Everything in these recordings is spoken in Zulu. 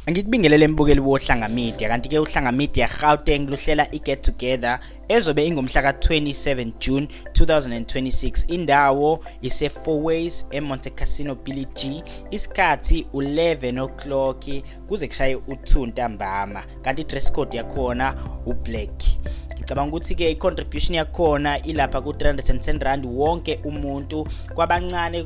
Angikubingelele mbukeli woHlanga Media kanti ke uHlanga Media Gauteng luhlela iGet Together ezobe ingomhla ka-27 June 2026 indawo ise-Fourways eMonte Cassino Billy G isikhathi u-11 o'clock kuze kushaye u-2 ntambama kanti i-dress code yakhona u-black ngicabanga ukuthi-ke i-contribution yakhona ilapha ku-310 rand wonke umuntu kwabancane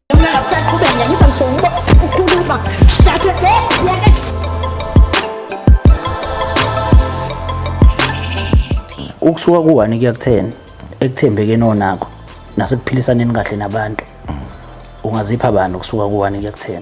ukusuka ku-one kuya ku-ten ekuthembekeni onakho nasekuphilisaneni kahle nabantu ungazipha bani ukusuka ku-one kuya ku-ten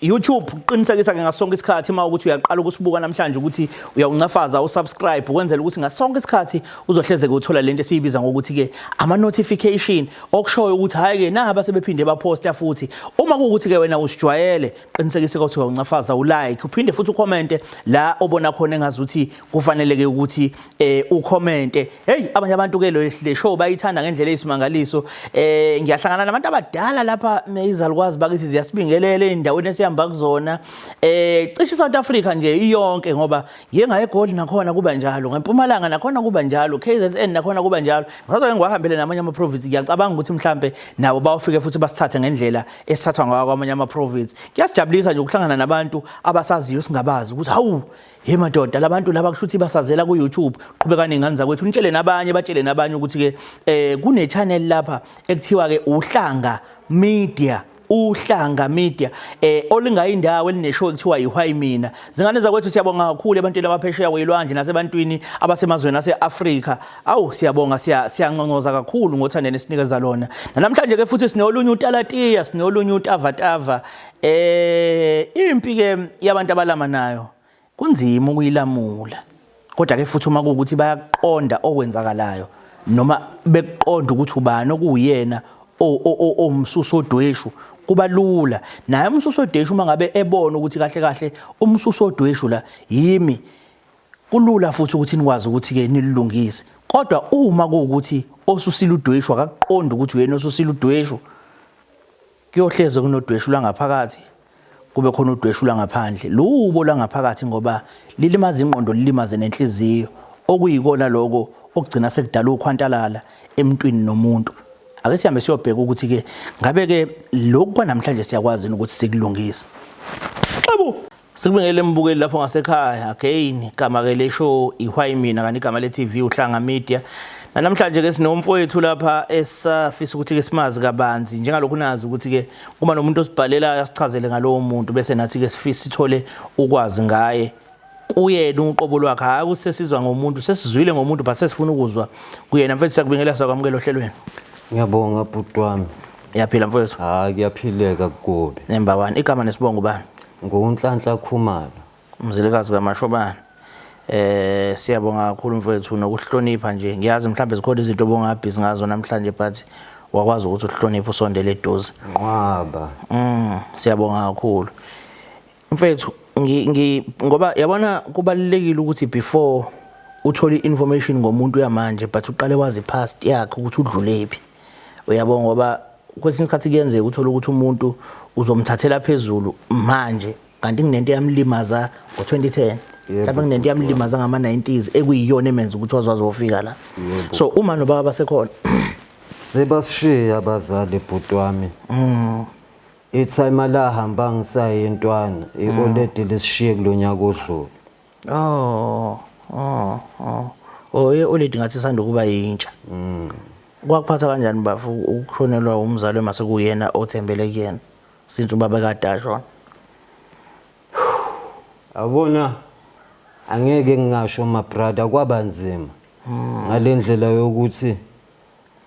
YouTube uqinisekisa ke ngasonke isikhathi uma ukuthi uyaqala ukusibuka namhlanje ukuthi uyawuncafaza usubscribe ukwenzela ukuthi ngasonke isikhathi uzohlezeke uthola lento esiyibiza ngokuthi ke ama notification okushoyo ukuthi hayi ke naha basebephinde baposta futhi uma kuwukuthi ke wena usijwayele qinisekisa ukuthi uyawuncafaza ulike uphinde futhi ucommente la obona khona engazi ukuthi kufanele ke ukuthi eh ucommente hey abanye abantu ke le show bayithanda ngendlela eyisimangaliso eh ngiyahlangana nabantu abadala lapha izalukwazi bakithi ziyasibingelela endaweni esihamba kuzona eh cishe South Africa nje iyonke ngoba ngiye ngaye eGoli nakhona kuba njalo ngempumalanga nakhona kuba njalo KZN nakhona kuba njalo ngisazoke ngiwahambele namanye ama province ngiyacabanga ukuthi mhlambe nabo bawufike futhi basithathe ngendlela esithathwa ngayo kwamanye ama province kuyasijabulisa nje ukuhlangana nabantu abasaziyo singabazi ukuthi hawu Hey madoda labantu laba kushuthi basazela ku YouTube qhubeka nengane zakwethu nitshele nabanye batshele nabanye ukuthi ke eh kune channel lapha ekuthiwa ke uhlanga media uhlanga media eh olingayindawo elineshow ekuthiwa yiwhy mina zingane zakwethu siyabonga kakhulu ebantwini abaphesheya kwelwandle nasebantwini abasemazweni aseAfrika awu siyabonga siyanconcoza kakhulu ngothando nesinikeza lona namhlanje ke futhi sinolunye utalatiya sinolunye utavatava Eh impi ke yabantu abalama nayo kunzima ukuyilamula. Kodwa ke futhi uma kuukuthi bayaqonda okwenzakalayo noma bekuqonda ukuthi ubani okuyena omsuso odweshu kuba lula naye umsuso odweshu uma ngabe ebona ukuthi kahle kahle umsuso odweshu la yimi kulula futhi ukuthi nikwazi ukuthi ke nilungise kodwa uma kuukuthi osusile udweshu akakuqondi ukuthi uyena osusile udweshu Kuyohleze kunodweshu lwangaphakathi kube khona udweshu lwangaphandle. Luwubo lwangaphakathi ngoba lilimaza ingqondo lilimaze nenhliziyo okuyikona lokho okugcina sekudala ukhwantalala emntwini nomuntu. Ake sihambe siyobheka ukuthi ke ngabe ke lokhu kwanamhlanje siyakwazi ukuthi sikulungise. Xabu! Sikubingele mbukeli lapho ngasekhaya again igama ke lesho ihwayi mina kanti igama le TV uhlanga media Namhlanje ke sinomfowethu lapha esafisa ukuthi ke simazi kabanzi njengalokhu nazi ukuthi ke uma nomuntu osibhalelayo asichazele ngalowo muntu bese nathi ke sifisa sithole ukwazi ngaye kuyena uqobo lwakhe hayi kusesizwa ngomuntu sesizwile ngomuntu but sesifuna ukuzwa kuyena mfethu sakubingelela sakwamukela ohlelweni ngiyabonga bhuti wami Ngiyaphila mfowethu. Hayi kuyaphileka kugobe. Nemba wani igama nesibongo bani? Ngunhlanhla Khumalo. Umzilikazi kaMashobana. Eh siyabonga kakhulu mfowethu nokuhlonipha nje. Ngiyazi mhlawumbe zikhona izinto obongabhizi ngazo namhlanje but wakwazi ukuthi uhloniphe usondele eduze. Nqwaba. Mm siyabonga kakhulu. Mfethu ngi, ngi ngoba yabona kubalulekile ukuthi before uthole information ngomuntu yamanje but uqale wazi past yakhe ukuthi udlulephi uyabo ngoba kwesinye isikhathi kuyenzeka uthole ukuthi umuntu uzomthathela phezulu manje kanti kunento yamlimaza ngo-2010 mhlawumbe kunento yamlimaza ngama-90s ekuyiyona emenza ukuthi wazwazi wofika la so uma nobaba basekhona sebasishiye abazali bhuti wami mm. Ithayima lahamba ngisaye ntwana ioledi lisishiye kulonyaka odlule. Oh. Oh. Oh. Oh, ioledi ngathi isanda ukuba yintsha. Mm. Kwakuphatha kanjani bafu ukushonelwa umzali uma sekuyena othembele kuyena since ubaba kade ashona? Awubona angeke ngingasho ma brother kwaba nzima ngalendlela yokuthi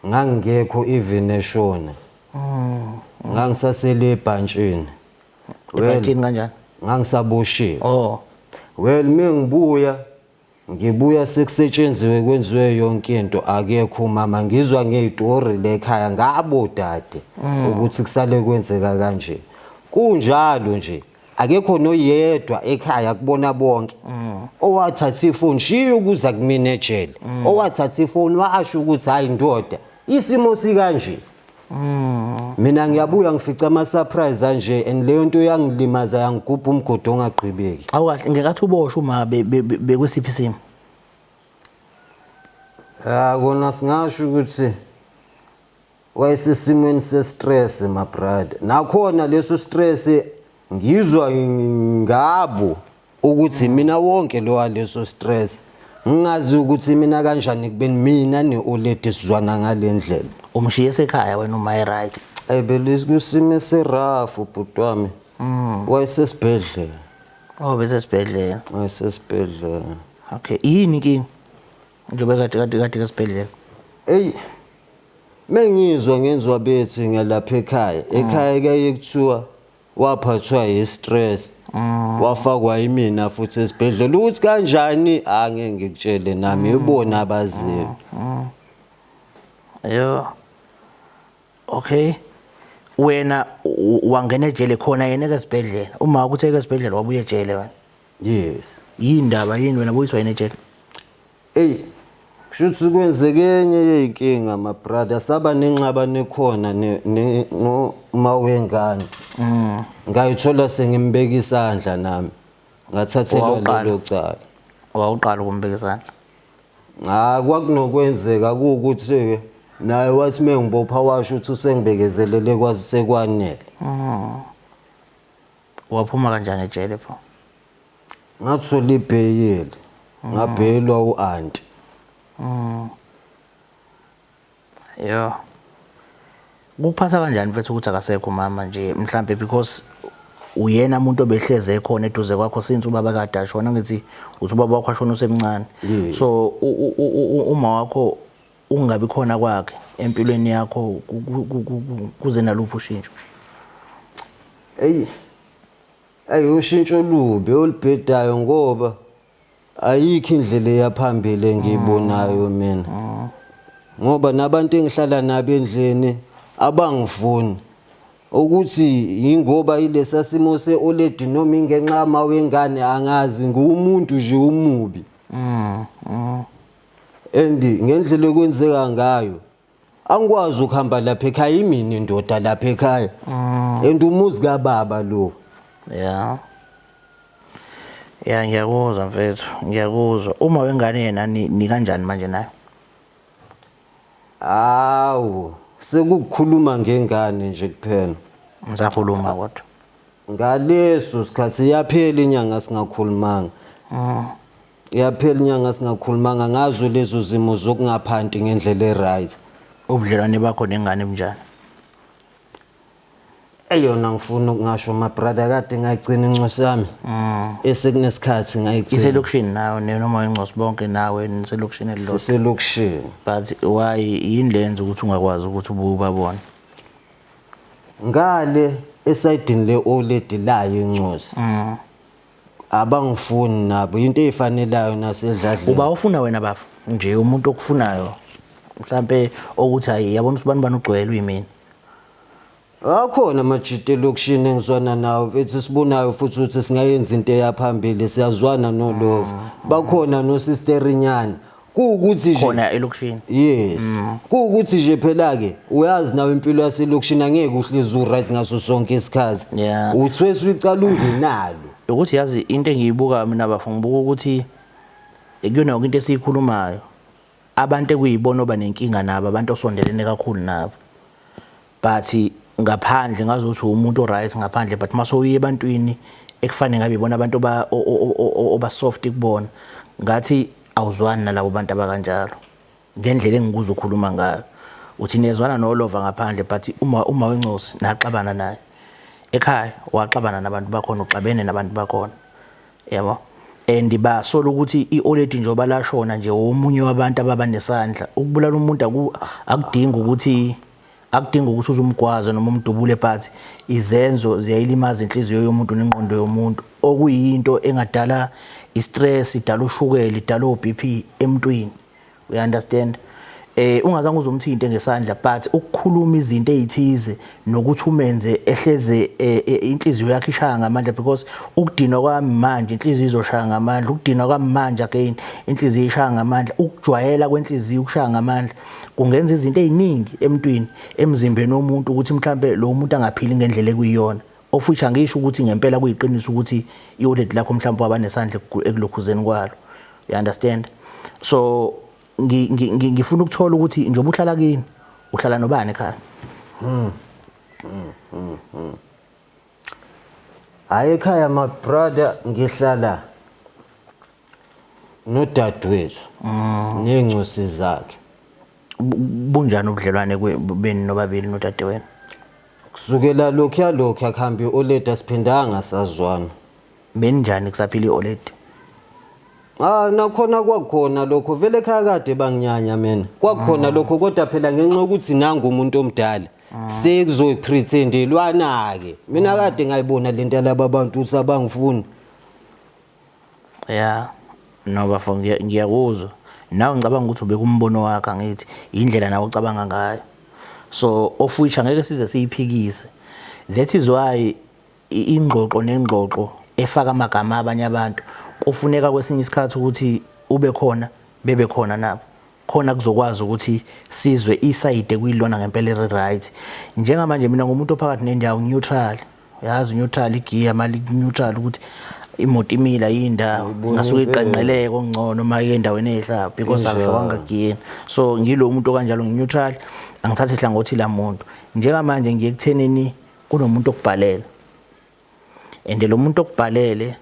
ngangingekho even eshona ngangisasele ebhantshini Well, ebhantshini kanjani ngangisaboshiwe oh well mengibuya ngibuya sekusetshenziwe kwenziwe yonke into akekho umama ngizwa ngeyitori lekhaya ngabo dade ukuthi kusale kwenzeka kanje kunjalo nje akekho noyedwa ekhaya kubona bonke mm. owathatha ifoni shiya ukuza kumina ejele mm. owathatha ifoni washo ukuthi hayi ndoda isimo sikanje mm. mina ngiyabuya ngifica ama surprise anje and leyo nto yangilimaza yangigubha umgodo ongagqibeki awukahle ngekathi uboshwe uma bekwesiphi isimo ya kona singasho ukuthi Wayesesimweni se stress my brother. Nakhona leso stress ngizwa ngabo ukuthi mina wonke lo waleso stress ngingazi ukuthi mina kanjani kubeni mina ne-oledi sizwana ngale ndlela umshiye esekhaya wena uma e-right ayi beliskusimo esirafu bhuti wami mm. wayesesibhedlela oh besesibhedlela wayesesibhedlela okay yini inkinga Ngibe kade kade kade esibhedlela. Eyi. Mengizwa ngenziwa bethi ngelapha ekhaya. Mm. Ekhaya kaye kuthiwa waphathwa yi stress. Mm. Wafakwa imina futhi esibhedlela ukuthi kanjani angeke ngikutshele nami mm. ibona abaziyo. Yo. Okay. Wena wangena ejele khona yena ke esibhedlela. Uma ukuthe ke esibhedlela wabuye ejele wena. Yes. Yini ndaba yini wena boyiswa yini ejele? Ey. Shuthi kwenzeke enye yeyinkinga ma brother saba nenxaba nekhona ne ne ngo mawengane. Mm. Ngayithola sengimbeka isandla nami. Ngathathelwa Wawuqala. lelo cala. Wawuqala ukumbeka isandla. Ah kwakunokwenzeka ukuthi naye wathi mengibopha washo ukuthi usengibekezelele kwazi sekwanele. Mm. Waphuma kanjani ejele pho? Ngathola ibheyili. Mm. Ngabheyilwa u-anti. Mm. Yo. Kuphatha kanjani mfethu ukuthi akasekho mama nje mhlambe because uyena umuntu obehleze ekhona eduze kwakho since ubaba kade ashona ngithi uthi ubaba wakho ashona usemncane so uma wakho Ukungabi khona kwakhe empilweni yakho kuze naluphi ushintsho? Eyi, ayi ushintsho olubi olubhedayo ngoba ayikho indlela eyaphambili engiyibonayo mm. mina mm. ngoba nabantu engihlala nabo endlini abangifuni ukuthi yingoba ilesa simo se-oledi noma ingenxa yama wengane angazi nguwumuntu nje umubi mm. and ngendlela ekwenzeka ngayo angikwazi ukuhamba lapha ekhaya imini indoda lapha ekhaya mm. and umuzi kababa lo yeah ya ngiyakuzwa mfethu ngiyakuzwa uma wengane yena ni kanjani manje nayo awu sekukhuluma ngengane nje kuphela ngisakhuluma kodwa ngaleso sikhathi yaphela inyanga singakhulumanga mm. Iyaphela inyanga singakhulumanga ngazo lezo zimo zokungaphanti ngendlela e-right. Ubudlelwane bakho nengane bunjani? Eyona ngifuna ukungasho my brother kade ngayigcina incosi yami. Esekunesikhathi ngayigcina. Iselokishini nawe ne- noma ingcosi bonke nawe niselokishini elilodwa. Siselokishini. But why yini lenza ukuthi ungakwazi ukuthi ubuye ubabone? Ngale esayidini le-oledi layo incosi. abangifuni nabo into eyifanelayo nasedladleni uba ufuna wena bafo nje umuntu okufunayo mhlambe okuthi hayi yabona usibani bani ugcwele uyimini akhona amajita elokishini engizwana nawo mfethu sibunayo futhi ukuthi singayenza into eyaphambili siyazwana nolova bakhona nosisterinyana kuwukuthi nje khona elokishini yes mm. kuwukuthi nje phela ke uyazi nawe impilo yaselokishini angeke uhlezi uright ngaso sonke isikhathi yeah. uthwesa uyiqala ungenalo ukuthi yazi into engiyibuka mina bafo ngibuka ukuthi ekuyona yonke into esiyikhulumayo abantu ekuyibona oba nenkinga nabo abantu osondelene kakhulu nabo but ngaphandle ngazothi umuntu oright ngaphandle but mase uye ebantwini ekufanele ngabe ibona abantu oba soft kubona ngathi awuzwani nalabo bantu abakanjalo ngendlela engikuza ukhuluma ngayo uthi niyezwana nolova ngaphandle but uma uma wencosi naxabana naye ekhaya waxabana nabantu bakhona uxabene nabantu bakhona yabo and basola ukuthi ioledi njengoba lashona nje womunye wabantu ababa nesandla ukubulala umuntu akudingi ukuthi Akudingi ukuthi uze umgwaze noma umdubule but izenzo ziyayilimaza inhliziyo yomuntu nengqondo yomuntu okuyinto engadala istress, idala ushukela, idala oBP emntwini. We understand? Eh ungazange uzomthinte ngesandla but ukukhuluma izinto ezithize nokuthi umenze ehleze eh, eh, inhliziyo yakhe ishaya ngamandla because ukudinwa kwami manje inhliziyo izoshaya ngamandla, ukudinwa kwami manje again inhliziyo ishaya ngamandla, ukujwayela kwenhliziyo ukushaya ngamandla. kungenza izinto eziningi emntwini emzimbeni womuntu ukuthi mhlambe lo muntu angaphili ngendlela ekuyiyona of which angisho ukuthi ngempela kuyiqiniso ukuthi iwallet lakho mhlawumbe waba nesandla ekulokhuzeni kwalo you understand so ngifuna ukuthola ukuthi njengoba uhlala kini uhlala nobani ekhaya hmm. hmm, hmm, hmm. hayi ekhaya my brother ngihlala nodadewethu ney'ncosi zakhe Bu- bunjani ubudlelwane kwe- benu nobabili nodadewenu kusukela lokhuya lokhuya kuhambe i-oledi asiphindanga sazwana beninjani kusaphila i-oledi Ah nakhona kwakhona lokho vele ekhaya kade banginyanya mina kwakhona lokho kodwa phela ngenxa yokuthi nangu umuntu omdala sekuzoyiprethendelwana ke mina kade ngayibona lento yalaba bantu ukuthi abangifuni Yeah no bafo ngiyakuzwa nawe ngicabanga ukuthi ubeka umbono wakhe angithi indlela nawe ocabanga ngayo so of which angeke size siyiphikise that is why ingxoxo nengxoxo efaka amagama abanye abantu kufuneka kwesinye isikhathi ukuthi ube khona bebe khona nabo khona kuzokwazi ukuthi sizwe isayide kuyilona ngempela eri right njengamanje mina ngumuntu ophakathi nendawo neutral yazi neutral igiya mali neutral ukuthi imoto imila yindawo ngasuke iqanqeleke okungcono uma yendaweni ehlapha because akufakanga giyeni so ngilo muntu kanjalo ngineutral angithathe hlangothi lamuntu njengamanje ngiye kuthenini kunomuntu okubhalela and lo muntu okubhalele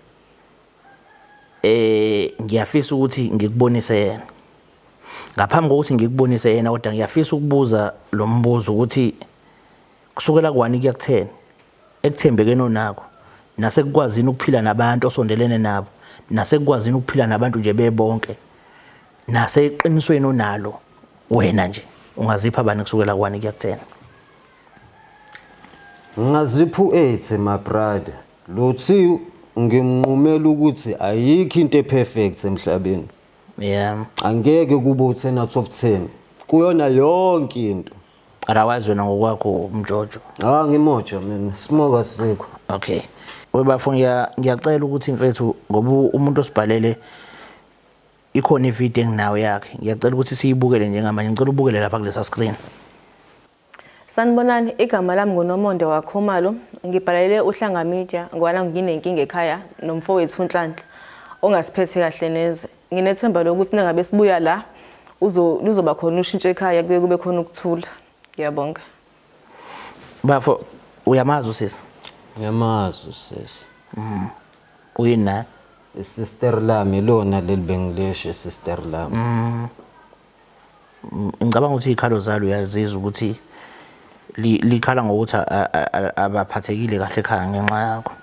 eh ngiyafisa ukuthi ngikubonise yena ngaphambi kokuthi ngikubonise yena kodwa ngiyafisa ukubuza lo mbuzo ukuthi kusukela kwani kuyakutheni ekuthembekeni onako nasekukwazini ukuphila nabantu osondelene nabo nasekukwazini ukuphila nabantu nje bebonke naseqinisweni onalo wena nje ungazipha bani kusukela kwani kuyakuthena Ngazipha u-80 my brother. Lo Thiu ngimnqumela ukuthi ayikho into eperfect emhlabeni. Yeah. Angeke kube u-10 out of 10. Kuyona yonke into. Arawazi wena ngokwakho umjojo. Ah ngimoja mina. Smoke asikho. Okay. Webafo ngiyacela ukuthi mfethu ngoba umuntu osibhalele ikhona ivideo enginayo yakhe. Ngiyacela ukuthi siyibukele njengamanje. Ngicela ubukele lapha kulesa screen. Sanibonani, igama lami nguNomonde waKhumalo. Ngibhalele uHlanga Media ngoba nangu nginenkinga ekhaya nomfowethu uNhlanhla ongasiphethe kahle neze. Nginethemba lokuthi nangabe sibuya la uzo luzoba khona ushintsho ekhaya kuye kube khona ukuthula. Ngiyabonga. Bafo uyamazi usisi? Ngiyamazi usisi. Mhm. Uyini naye? Isister lami lona leli bengilisho isister lami. Mhm. Ngicabanga ukuthi iy'khalo zalo uyazizwa ukuthi likhala ngokuthi abaphathekile kahle ekhaya ngenxa yakho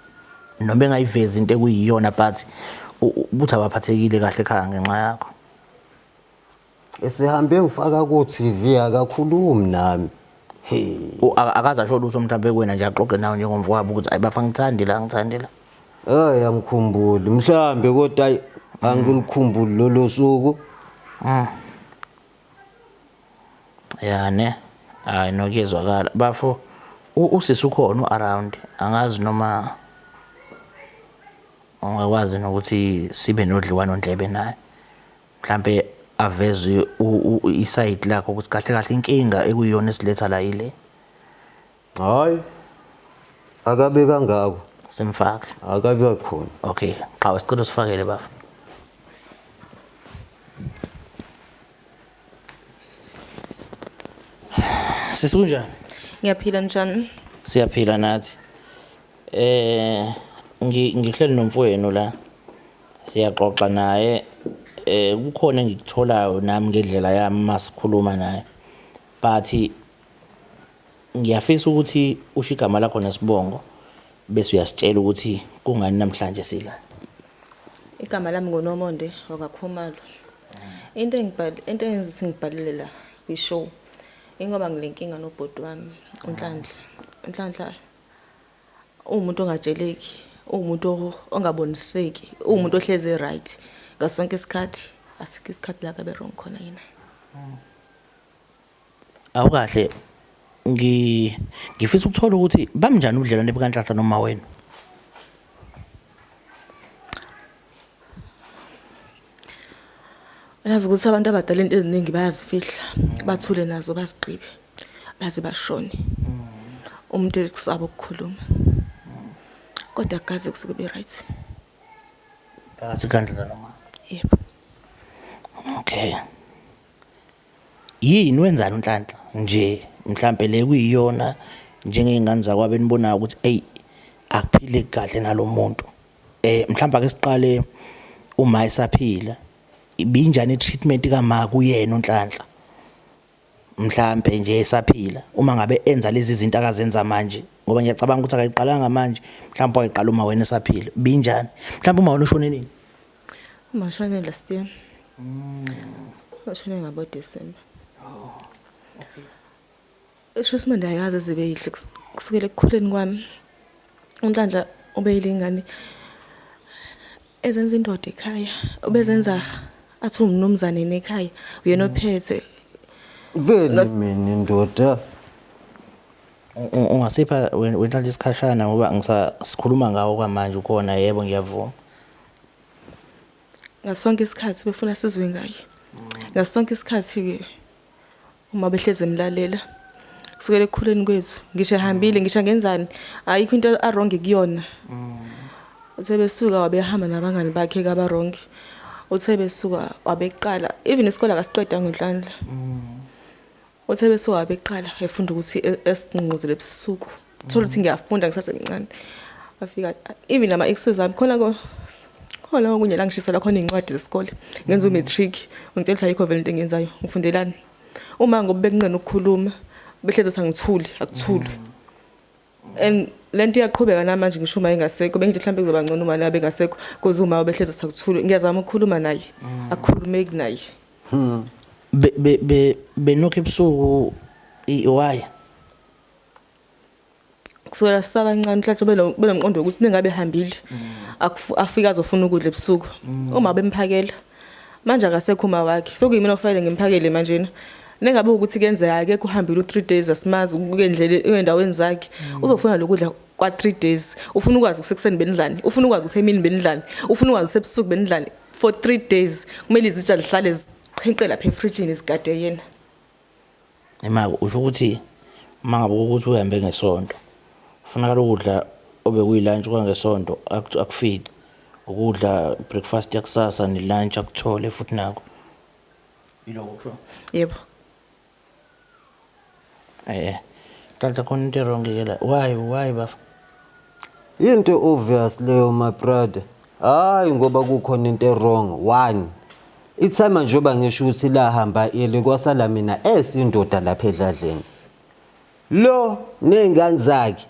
noma engayivezi into ekuyiyona but ukuthi abaphathekile kahle ekhaya ngenxa yakho esihambe ngifaka ku-TV akakhulumi nami akaze asho lutho mhlawumbe kuwena nje axoxe nawe njengomfowabo ukuthi ayi bafa ngithandi la ngithandi la hayi angikhumbuli mhlawumbe kodwa ayi angilikhumbuli lolo suku mm. ya ne hayi nokuyezwakala bafo usisi ukhona u-around angazi noma ungakwazi nokuthi sibe nodliwano ndlebe naye mhlampe aveze isayidi lakho ukuthi kahle kahle inkinga ekuyiyona esiletha la yile hayi akabe kangako simfake akabe khona okay qhawe sicela usifakele bafa sisi kunjani ngiyaphila njani siyaphila nathi eh ngihleli nomfowenu la Siyaxoxa naye eh kukhona engikutholayo nami ngedlela yami masikhuluma naye. But ngiyafisa ukuthi usho igama lakho nesibongo bese uyasitshela ukuthi kungani namhlanje sila. Igama lami nguNomonde wakaKhumalo. Into engibhal into engenza ukuthi ngibhalele la kwi-show ingoba ngilenkinga nobhuti wami uNhlanhla. uNhlanhla uwumuntu ongatsheleki uwumuntu ongaboniseki uwumuntu mm. ohlezi right ngaso sonke isikhathi asikho isikhathi la kabe wrong khona yena mm. awukahle ngi ngifisa ukuthola ukuthi bamnjani ubudlelwane bukanhlahla noma wena Uyazi ukuthi abantu abadala into eziningi bayazifihla, bathule nazo bazigqibe. Baze bashone. Umuntu ezikusaba ukukhuluma. Kodwa akaze kusuke be right. Phakathi kandlela noma? Yebo. Okay. Yini wenzani uNhlanhla nje mhlambe le kuyiyona njengezingane zakwabo enibonayo ukuthi ey akuphile kahle nalomuntu. Eh mhlawumbe ake siqale uma esaphila ibinjani treatment kama kuyena uNhlanhla mhlambe nje esaphila uma ngabe enza lezi zinto akazenza manje ngoba ngiyacabanga ukuthi akayiqalanga manje mhlawumbe wayiqala uma wena esaphila binjani mhlawumbe uma wena ushone nini uma ushone last year mm ushone ngabo December oh okay Esho isimanje ayikaze zibe yihle kusukela ekukhuleni kwami. UNhlanhla ubeyile ingane ezenza indoda ekhaya, ubezenza athi umnumzane nekhaya, uyena mm. ophethe. Vele mina indoda ungasipha wenhlanhla isikhashana ngoba ngisasikhuluma ngawo kwamanje ukhona yebo ngiyavuma ngasonke isikhathi befuna sizwe ngaye ngasonke isikhathi-ke Uma behleze emlalela kusukela ekukhuleni kwethu ngisho ehambile ngisho ngenzani ayikho into arongi kuyona mm. uthe besuka wabehamba nabangani bakhe kaba wrong uthe besuka wabeqala even isikole akasiqeda ngenhlanhla mm. uthe besuka wabeqala efunda ukuthi e-, esinqungquzele ebusuku thola ukuthi ngiyafunda ngisasemncane afika even ama exes ami khona ko khona okunye la ngishisela khona izincwadi zesikole ngenza u matric ngitshela ukuthi ayikho vele into engiyenzayo ngifundelani uma ngobe bekunqena ukukhuluma behleze sangithuli akuthuli and lento iyaqhubeka namanje ngisho uma engasekho bengithi mhlawumbe kuzoba ngcono uma la bengasekho because uma behleze sakuthuli ngiyazama ukukhuluma naye mm. akukhulumeki naye hmm. be be be benokho ebusuku iwaya kusukela sisabancane mhlathi benomqondo ukuthi ningabe hambile afike azofuna ukudla ebusuku mm. uma bemphakela manje akasekho uma wakhe sokuyimina ofanele ngimphakele manjena nengabe ukuthi kenzeka ke kuhambile u3 days asimazi ukendlele endaweni zakhe mm. uzofuna lokudla kwa 3 days ufuna ukwazi kusekuseni benidlani ufuna ukwazi kusemini benidlani ufuna ukwazi sebusuku benidlani for 3 days kumele izitsha lihlale ziqhenqela phe fridge izigade yena Imake usho ukuthi uma ngabe ukuthi uhambe ngesonto kufunakala ukudla obekuyilantshi kwangesonto akufice ukudla breakfast yakusasa nelunch akuthole futhi nako yiloko kusho yebo eh kanti khona into wrong ke la why why bafa Into obvious leyo my brother. Hayi ngoba kukhona into ewrong. One. Ithema njengoba ngisho ukuthi lahamba eli kwasala mina esindoda lapha edladleni. Lo nezingane zakhe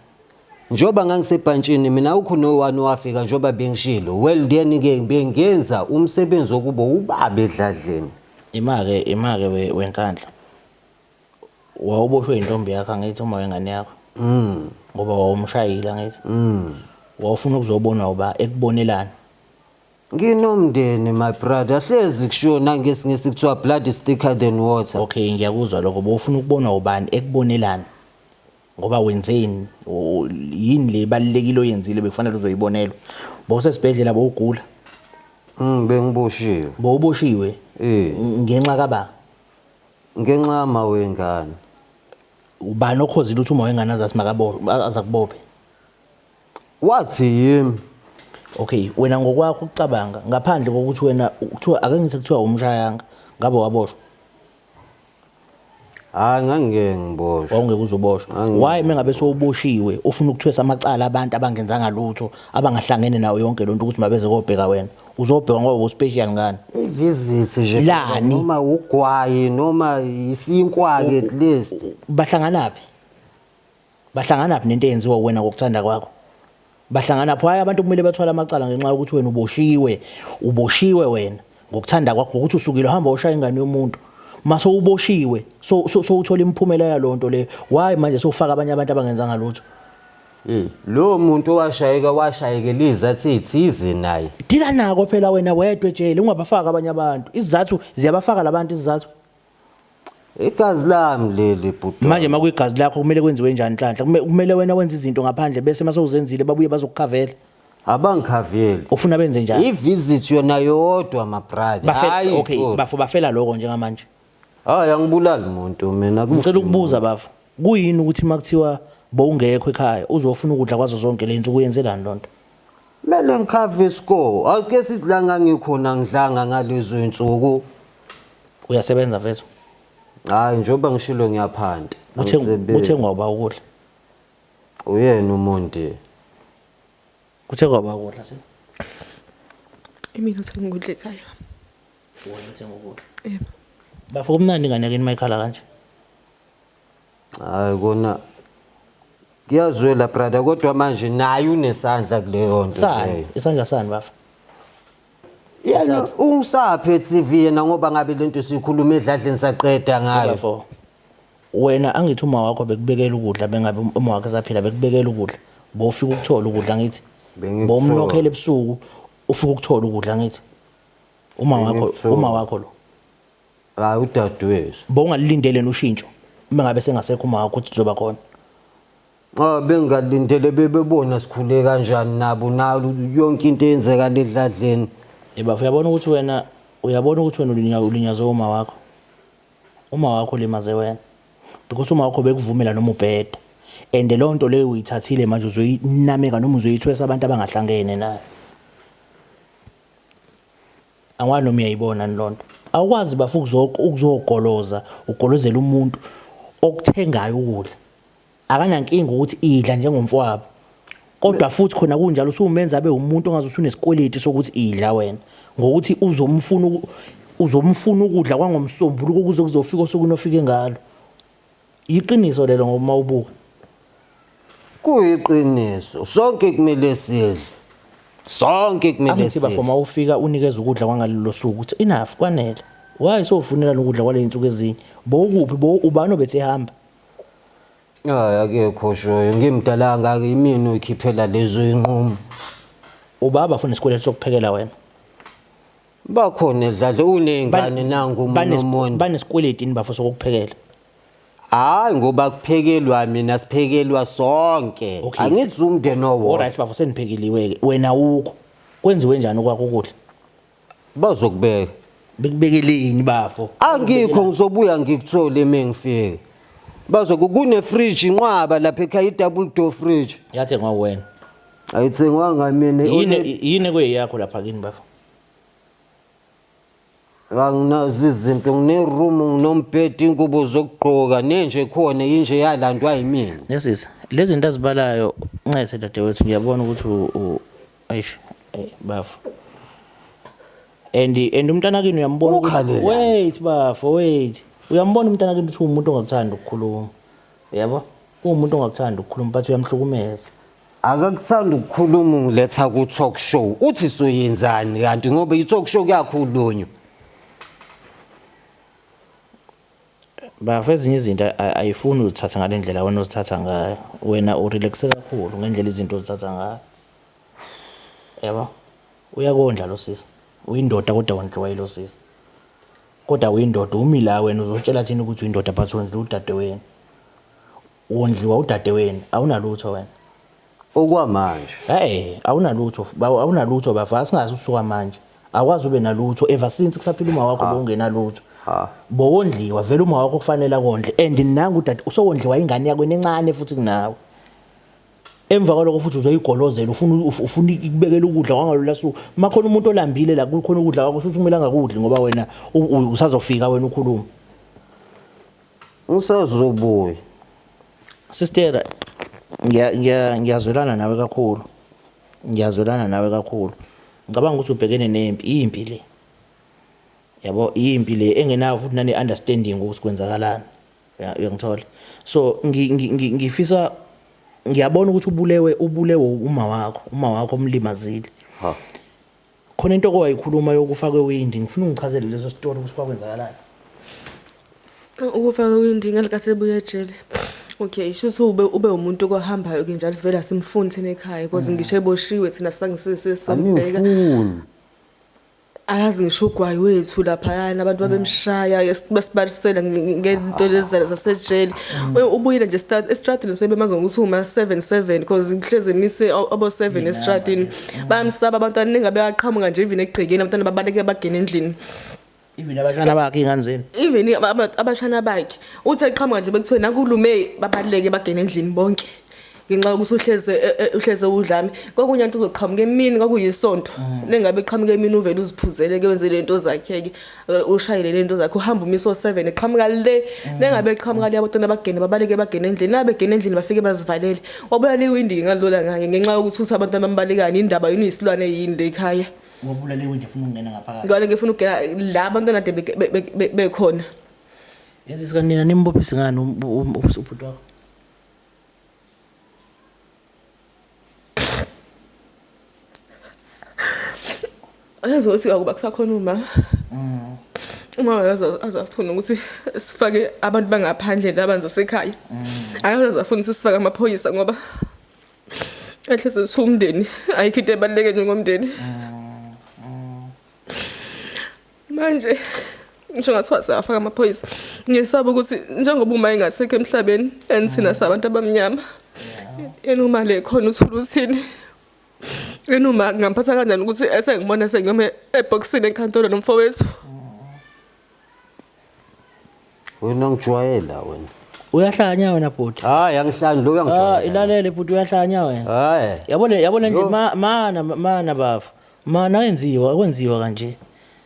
njengoba ngangisebhantshini mina ukho no-one wafika njengoba bengishilo well then-ke bengenza umsebenzi wokuba ubaba edladleni Imake imake we- wenkandla. wawuboshwe yintombi yakho angithi uma wengane yakho mm. ngoba wawumshayile angithi mm. wawufuna ukuzobonwa uba ekubonelani nginomndeni my brother hlezi kushona ngesingisi kuthiwa blood is thicker than water okay ngiyakuzwa lokho bowufuna ukubonwa ubani ekubonelani ngoba wenzeni yini le balekile oyenzile bekufanele uzoyibonelwa bowusesibhedlela bowugula mm bengiboshiwe bowuboshiwe eh. ngenxa kaba Ngenxa yama wengane. Ubani okhozile uthi uma wengane azathi makabophe azakubophe? Wathi yimi. Okay, wena ngokwakho ucabanga ngaphandle kokuthi wena kuthiwa ake ngithi kuthiwa umshayanga ngabe waboshwa. Hayi ngangeke ngiboshwe. Wawungeke uzoboshwa. Why mengabe sowuboshiwe ufuna ukuthwesa amacala abantu abangenzanga lutho abangahlangene nawo yonke lonto ukuthi mabeze kobheka wena. uzobheka ngoba uspecial ngani ivisit nje Lani? noma ugwayi noma isinkwa ke at least bahlanganaphi bahlanganaphi nento eyenziwa wena ngokuthanda kwakho bahlangana pho hayi abantu kumele bathwale amacala ngenxa yokuthi wena uboshiwe uboshiwe wena ngokuthanda kwakho ukuthi usukile uhamba ushaya ingane yomuntu mase uboshiwe so so so uthola imiphumela yalonto le why manje sofaka abanye abantu abangenzanga lutho Hey, lowo muntu owashayeka washayekela izathu ezithize naye. Dila nako phela wena wedwa ejele ungabafaka abanye abantu. Izizathu ziyabafaka labantu izizathu. Igazi lami leli bhuti. Manje makuyigazi lakho kumele kwenziwe njani nhlanhla? Kume- Kumele wena wenze izinto ngaphandle bese mase uzenzile babuye bazokukhavela. Abangikhaveli. Ufuna benze njani? I-visit yona yodwa my brother. Bafela Hhayi okay, futhi. bafo bafela lokho njengamanje. Hayi angibulali muntu mina kufi. Ngicela ukubuza bafo. Kuyini ukuthi makuthiwa bowungekho ekhaya uzofuna ukudla kwazo zonke lento kuyenzelani lonto? Mele ngikhave isikole. Asike sithi la ngangikhona ngidlanga ngalezo insuku. Uyasebenza mfethu. Hayi njengoba ngishilo ngiyaphanta. Kuthe Angisebenzi. kuthe ngoba ukudla. Uyena umuntu. Kuthe ngoba ukudla sisi. Imina sengikudla ekhaya. Wena uthenga ukudla. Yebo. Bafo kumnandi ingane yakini mayikhala kanje. Hayi kona kuyazwela brother kodwa manje naye unesandla kuleyo nto. Sani, leyo. isandla sani bafo. Yena ungisaphe TV yena ngoba ngabe lento sikhuluma edladleni saqeda ngayo. Bafo. Wena angithi uma wakho bekubekela ukudla bengabe um- uma wakhe saphila bekubekela ukudla. Bofika ukuthola ukudla ngithi. Bengikuthola. Bomnokhela ebusuku ufika ukuthola ukudla ngithi. Uma wakho uma wakho lo. Hayi udadewethu. Bowungalilindele ushintsho uma ngabe sengasekho uma wakho ukuthi uzoba khona. Ah bengalindele bebebona sikhule kanjani nabo nalu yonke into eyenzeka ledladleni. Yeba uyabona ukuthi wena uyabona ukuthi wena ulinya ulinyazwe uma wakho. Uma wakho limaze wena. Because uma wakho bekuvumela noma ubheda. And leyo nto leyo uyithathile manje uzoyinameka noma uzoyithwesa abantu abangahlangene nayo. angwani noma uyayibona ni lonto awukwazi bafu ukuzogoloza ugolozela umuntu okuthengayo ukudla akanankinga ukuthi idla njengomfowabo kodwa futhi khona kunjalo usumenza abe umuntu ongaze usunesikweleti sokuthi idla wena ngokuthi uzomfuna uzomfuna ukudla kwangomsombuluko kuze kuzofika osukwini ofike ngalo Yiqiniso lelo ngoba mawubuka. Kuyiqiniso. Sonke kumele sidle. Sonke kumele Angithi bafo sidle. mawufika unikeza ukudla kwangalelo suku ukuthi enough kwanele. Why sofunela nokudla kwaley'nsuku ezinye? Bo ukuphi bo ubani obethi ehamba? Hayi akekho oshoyo. Ngimdala kangaka yimina oyikhiphela lezo iy'nqumo. Ubaba funa isikweletu sokuphekela wena. bakhona dladle uneyngane nangu umuntu banesikweleti ini bafo sokuphekela hayi ngoba kuphekelwa mina siphekelwa sonke Okay. angithi umndeni owodwa Alright bafo seniphekeliwe ke wena ukho kwenziwe njani okwakho ukudla bazokubeka bekubekeleni bafo angikho ngizobuya ngikuthole uma ngifike bazoku kunefridge inqwaba lapha ekhaya i-double door fridge yathengwa uwena ayithengwanga mina yini yini kweyakho lapha kini bafo anginazo izinto ngineroom nginombhedi ingubo zokugqoka nenje khona yinje yalandwa yimina nesisi lezi zinto azibalayo ncese dadewethu ngiyabona ukuthi ayish bafo and and umntana kini uyambona ukuthi wait bafo wait uyambona umntana kini ukuthi umuntu ongakuthanda ukukhuluma yabo umuntu ongakuthanda ukukhuluma but uyamhlukumeza Akakuthanda ukukhuluma ungiletha ku talk show. Uthi soyenzani kanti ngoba i talk show kuyakhulunywa. Bafo ezinye izinto a- ayifuni uzithatha ngale ndlela wena ozithatha ngayo. Wena urelaxe kakhulu ngendlela izinto ozithatha ngayo. Yabo? Uyakondla lo sisi. Uyindoda kodwa wondliwa yilo sisi. Kodwa uyindoda umi la wena uzotshela thina ukuthi uyindoda but wondliwa udadewenu. Wondliwa udadeweni awunalutho wena. Okwamanje. Hey, awunalutho, bawo awunalutho bafa singazi usuka manje. Akwazi ube nalutho ever since kusaphila uma wakho bongenalutho. Ha. Bowondliwa vele uma wakho kufanele akondle and nangu udade usowondliwa ingane yakho enencane futhi kunawe. Emva kwaloko futhi uzoyigolozela ufuna uf- ufuna ikubekela ukudla kwangalola suku. Makhona umuntu olambile la kukhona ukudla kwakho shuthi kumele angakudli ngoba wena u- u- usazofika wena ukhuluma. Usezobuya. Sister ngiya ngiya ngiyazwelana nawe kakhulu. Ngiyazwelana nawe kakhulu. Ngicabanga ukuthi ubhekene nempi, impi le. Yabo impi le engenayo futhi nane understanding ukuthi kwenzakalani. Uyangithola. So ngifisa ngiyabona ukuthi ubulewe ubulewe uma wakho, uma wakho omlimazile. Ha. khona into owayikhuluma yokufa kwewindi ngifuna ungichazele leso story ukuthi kwakwenzakalani ukufa kwewindi ngalikathi ebuya ejele okay shuthi ube ube umuntu okohambayo ke njalo sivela simfuni thina ekhaya because mm. ngisho eboshiwe thina sangisise sombheka ayazi ngisho ugwayi wethu laphayana abantu mm. babemshaya besibalisela ngento ah. lezi zasejele mm. ubuyile nje estradini sebemazi ngokuthi uma 77 because ngihlezi emise abo 7 estradini bayamsaba abantwana ningabe aqhamuka nje even egcekeni abantwana babaleke bagene endlini even abashana bakhe ingane zenu even abashana bakhe uthi eqhamuka nje bekuthiwe nakulume babaleke bagene endlini bonke ngenxa yokuthi uhleze e, e, uhleze udlame kokunye into uzoqhamuka emini kwakuyisonto mm. nengabe eqhamuka emini uvele uziphuzele ke wenze lento zakhe ke Eh, ushayele lento zakhe uhamba umiso 7 eqhamuka le mm. nengabe eqhamuka le abantwana bagene babaleke bagene endlini nabe gene endlini bafike bazivalele wabulala iwindi ngalola ngake ngenxa yokuthi uthi abantu abambalekani indaba yini isilwane yini le ekhaya wabulala iwindi ufuna ukungena ngaphakathi ngale ngifuna ukugena la abantwana de bekhona yazi sikanina nimbophisi ngani um, um, um, ubhuti wakho Yazi ukuthi akuba kusakhona uma. Mm. Uma yaza azafuna ukuthi sifake abantu bangaphandle nabanze sekhaya. Mm. Ayaza azafuna ukuthi sifake amaphoyisa ngoba ehle sesumndeni ayikho into ebaluleke njengomndeni. Mm. manje ngisho ngathiwa siyafaka amaphoyisa ngisaba ukuthi njengoba uma engasekho emhlabeni and thina sabantu abamnyama yena uma le khona uthula uthini yena uma ngamphatha kanjani ukuthi esengibona sengiyome ebhokisini enkantolo nomfowethu wena ngijwayela wena uyahlanya wena bhuti hayi angihlani lo uyangijwayela ah ilalele bhuti uyahlanya wena hayi yabo le yabo le nje mana mana bafo mana ayenziwa akwenziwa kanje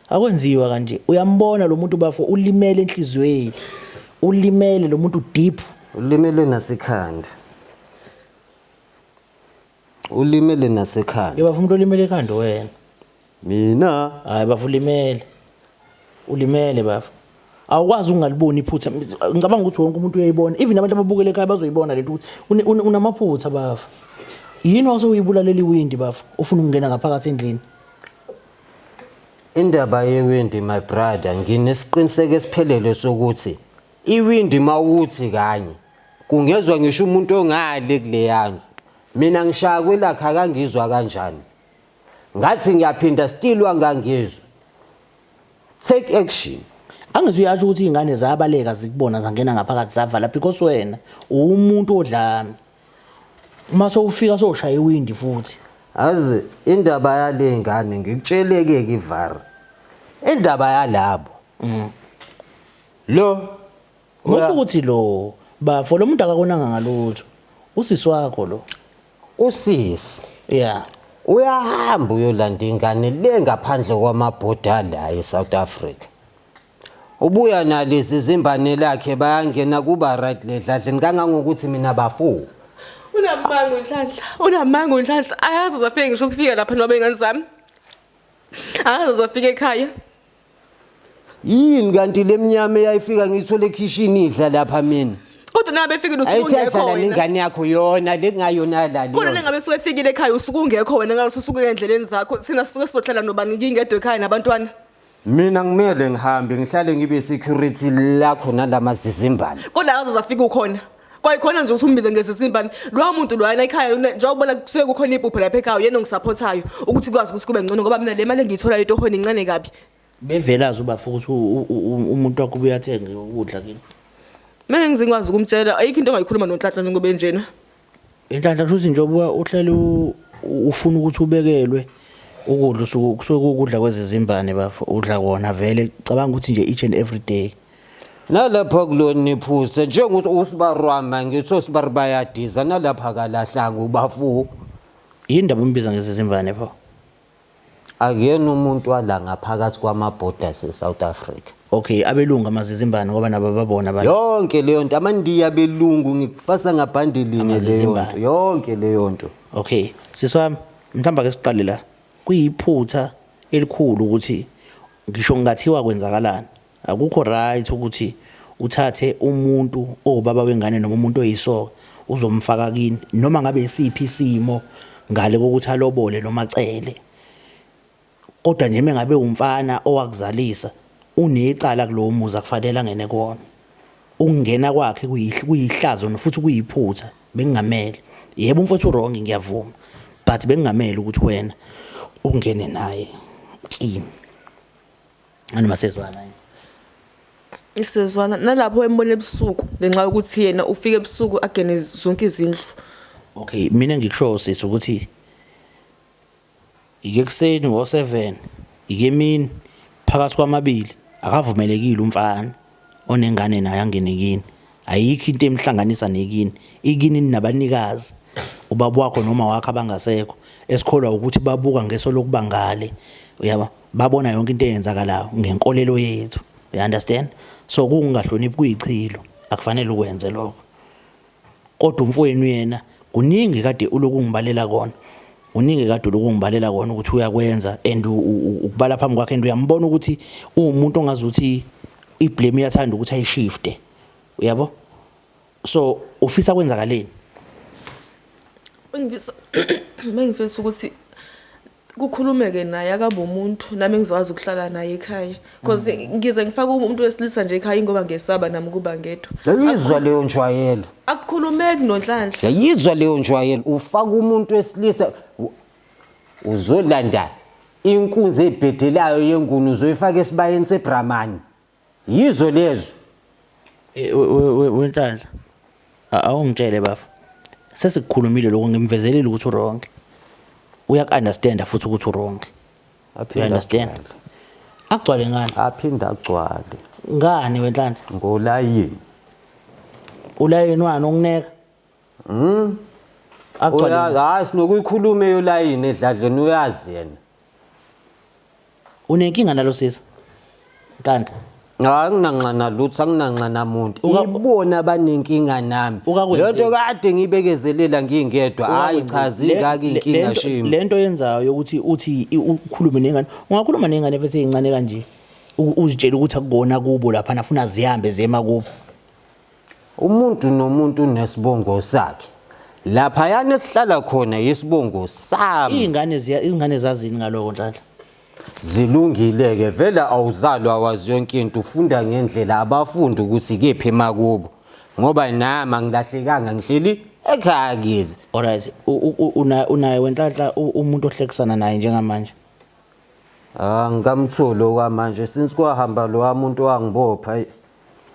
akwenziwa kanje uyambona lo muntu bafo ulimele enhlizweni ulimele lo muntu deep ulimele nasekhanda ulimele nasekhanda Yeba umuntu olimele ekhanda wena. mina Hayi bafo ulimele. Ulimele bafo. Awukwazi ukungaliboni iphutha. Ngicabanga ukuthi wonke umuntu uyayibona. Even abantu ababukele ekhaya bazoyibona lento ukuthi une- une- unamaphutha bafo. Yini wase uyibulalela iwindi bafo? Ufuna ukungena ngaphakathi endlini. indaba yewindi my brother nginesiqiniseko esiphelele sokuthi Iwindi mawuthi kanye kungezwa ngisho umuntu ongale kuleyandlu mina ngishaya kwelakhe akangizwa kanjani ngathi ngiyaphinda still wangangizwa take action angithi uyasho ukuthi izingane zabaleka zikubona zangena ngaphakathi zavala because wena uwumuntu odlami uma sowufika soshaya iwindi futhi azi indaba yale ngane ngikutsheleke kivara indaba yalabo mm. Lo Musa ukuthi lo bafo lo muntu akakonanga ngalutho. Usisi wakho lo. Usisi. Yeah. Uyahamba uyolanda ingane le ngaphandle kwamabhoda la eSouth Africa. Ubuya nalezi zimbane lakhe bayangena kuba right ledladleni kangangokuthi mina bafo. Unamanga unhlanhla. Unamanga unhlanhla. Ayazi uzafika ngisho ukufika lapha noma bengane zami. Akaze uzafika ekhaya. Yini kanti lemnyama eyayifika ngiyithola ekhishini idla lapha mina. Kodwa nabe efikile usuku ungekho wena. Ayithanda ingane yakho yona lekungayona la leyo. Kodwa nengabe suke efikile ekhaya usuku ungekho wena ngalo susuke endleleni zakho. Sina suke sohlala nobani ngingedwe ekhaya nabantwana. Mina ngimele ngihambe ngihlale ngibe security lakho nalamazizimbane. Kodwa akaze zafika ukhona. kwayikhona nje ukuthi umbize ngezizimbani lowo muntu loyana ekhaya njengokubona kusuke kukhona ibhubhe lapha ekhaya uyena ongisaphothayo ukuthi kwazi ukuthi kube ngcono ngoba mina le mali engiyitholayo etohweni incane kabi bevelazi ubafa ukuthi umuntu wakho ubuye athenge ukudla kini mina ngizingikwazi ukumtshela ayikho into ongayikhuluma nonhlanhla njengoba enjena Inhlanhla kusho ukuthi njengoba uhlale ufuna ukuthi ubekelwe ukudla usuku kusuke kukudla kwezizimbane bafo udla kona vele cabanga ukuthi nje each and every day nalapha kuloniphusa njengokuthi usibarwama ngithi osibari bayadiza nalapha kalahlanga ubafu yini ndaba umbiza ngezizimbane pho Akuyena umuntu wala ngaphakathi kwama borders e South Africa. Ok abelungu amazizimbane ngoba nabo babona abantu. Yonke leyo nto amandiya belungu ngikufasa ngabhandelinye leyo Amazizimbane. nto. Yonke leyo nto. Okay, sisi wami, mhlawumbe ake siqale la. Kuyiphutha elikhulu ukuthi ngisho kungathiwa kwenzakalani. Akukho right ukuthi uthathe umuntu owubaba wengane noma umuntu oyisoka uzomfaka kini noma ngabe isiphi isimo ngale kokuthi alobole noma cele. Kodwa nje mengabe umfana owakuzalisa unecala kulowo muzi akufanele angene kuwona. Ukungena kwakhe kuyihlazo nofuthi kuyiphutha bengingamele. Yebo umfowethu wrong ngiyavuma but bengingamele ukuthi wena ungene naye kini. Ani masezwana yini? Isezwana nalapho embona ebusuku ngenxa yokuthi yena ufika ebusuku agene zonke izindlu. Okay, mina ngikushoyo sisi ukuthi ike kuseni ngo-7 ike emini phakathi kwamabili akavumelekile umfana onengane naye angene kini ayikho into emhlanganisa nekini ikini ninabanikazi ubaba wakho noma wakho abangasekho esikholwa ukuthi babuka ngeso lokuba ngale uyaba babona yonke into eyenzakalayo ngenkolelo yethu you understand so kungahloniphi kuyichilo akufanele ukwenze lokho Kodwa umfowenu yena kuningi kade uloku ungibalela kona. Kuningi kade uloku ungibalela kona ukuthi uyakwenza and ukubala phambi kwakhe and uyambona ukuthi uwumuntu ongazi ukuthi iblame iyathanda ukuthi ayishifte. Uyabo? So ufisa kwenzakaleni? Bengifisa bengifisa ukuthi kukhulumeke naye akabe umuntu nami ngizokwazi ukuhlala naye ekhaya because mm. ngize ngifake umuntu wesilisa nje ekhaya ingoba ngesaba nami ukuba ngedwa yayizwa leyo njwayelo akukhulumeki nonhlanhla yayizwa leyo njwayelo ufaka umuntu wesilisa uzolanda inkunzi ebhedelayo yenguni uzoyifaka esibayeni sebramani Yizwe lezwe. Wenhlanhla. Awungitshele bafo. Sesikukhulumile lokho ngimvezelile ukuthi uwrong. Uyakunderstand futhi ukuthi uwrong. You understand? Agcwale ngani? Aphinda agcwale. Ngani wenhlanhla? Ngolayini. Ulayini wani ongineka? Mm. Agcwale. Uyazi hayi sinokuyikhuluma eyolayini edladleni uyazi yena. Unenkinga nalo sisi. Kanti Hayi nginanxana lutho anginanxana muntu. Uka- Ibona abanenkinga nami. Ukakwenzile. Lento kade ngibekezelela ngingedwa. Hayi cha zingaki inkinga Le shimi. nto yenzayo ukuthi uthi i- ukhulume nengane. Ungakhuluma nengane bese incane kanje. U- Uzitshela ukuthi akubona kubo lapha nafuna zihambe zema kubo. Umuntu nomuntu unesibongo sakhe. Laphayana esihlala khona yisibongo sami. Iy'ngane ziya izingane zazini ngaloko Nhlanhla? Zilungile-ke vele awuzalwa wazi yonke into ufunda ngendlela abafundi ukuthi kephi emakubo ngoba nami angilahlekanga ngihleli ekhaya kithi. Alright, u- u- u- una- unaye wenhlanhla u- umuntu ohlekisana naye njengamanje. Ah ngikamtholi okwamanje since kwahamba lowa muntu wangibopha.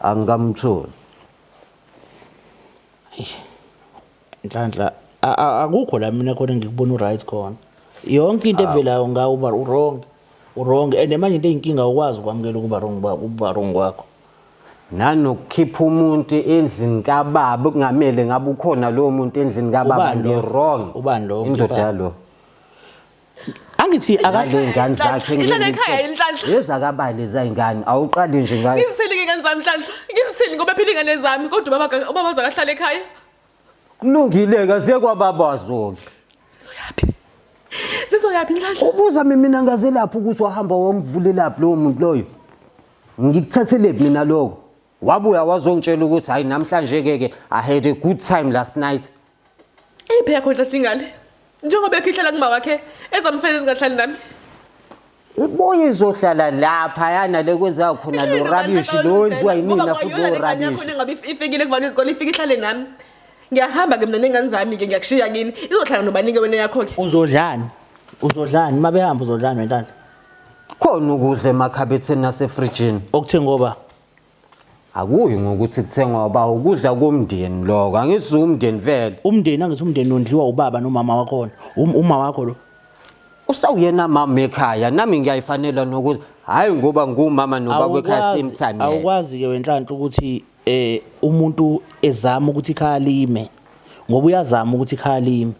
angikamtholi nhlanhla akukho la mina khona ngikubona uright khona yonke into evelayo ngawo uba urong urong and manje into eyinkinga ukwazi ukwamukela ukuba wrong ukuba wrong kwakho nanokukhipha umuntu endlini kababa kungamele ngabe ukhona lowo muntu endlini kababa ngirong ubani lo indoda lo angithi akahle ingane zakhe inhlale ekhaya inhlanhla yezakabani ezayingane awuqali nje ngayo ngizisele ingane zami inhlanhla ngizisele ngoba phila ingane zami kodwa ubaba ubaba zakahlala ekhaya kulungile kaze kwababa wazoke sizoyaphi sizoyaphi inhlanhla ubuza mina ngaze lapho ukuthi wahamba wamvulelaphi lowo muntu loyo ngikuthathelephi mina lokho wabuya wazongitshela ukuthi hayi namhlanje ke ke i had a good time last night iphi yakho ntatha ingane njengoba ekhihlala kuma wakhe ezamfela ezingahlali nami ibuye izohlala lapha yana le kwenzeka khona lo rubbish lo wenziwa yimina futhi lo rubbish ngabe ifikile kuvana izikole ifike ihlale nami ngiyahamba ke mina nengane zami ke ngiyakushiya kini izohlala nobanike wena yakho ke uzodlani uzodlani uma behamba uzodlani wentala khona ukudla emakhabetheni nasefrijini okuthe ngoba akuyi ngokuthi kuthengwa uba ukudla komndeni lokho angithi umndeni vele umndeni angithi umndeni ondliwa ubaba nomama wakhona um, uma wakho lo usawuyena mama ekhaya nami ngiyayifanela nokuthi hhayi ngoba ngumama nobaba ekhaya same time awukwazi-ke wenhlanhla ukuthi eh umuntu ezama ukuthi ikhaya lime ngoba uyazama ukuthi ikhaya lime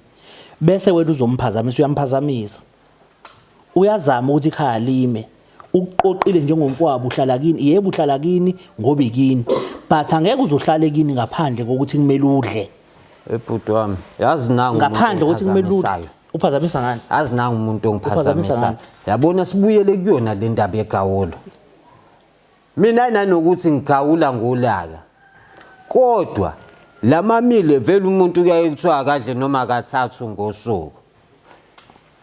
bese wena uzomphazamisa uyamphazamisa Uyazama ukuthi ikhaya lime. Ukuqoqile njengomfowabo uhlala kini. Yebo uhlala kini ngoba ikini. But angeke uzohlale kini ngaphandle kokuthi kumele udle. Ebhuti wami, yazi nangu umuntu Ngaphandle kokuthi kumele udle. ongiphazamisayo. Uphazamisa ngani? Yazi nangu umuntu Uphazamisa ongiphazamisayo. ngani? Yabona sibuyele kuyona le ndaba yegawolo. Mina nanokuthi ngigawula ngolaka. Kodwa lamamile vele umuntu kuyaye kuthiwa akadle noma kathathu ngosuku.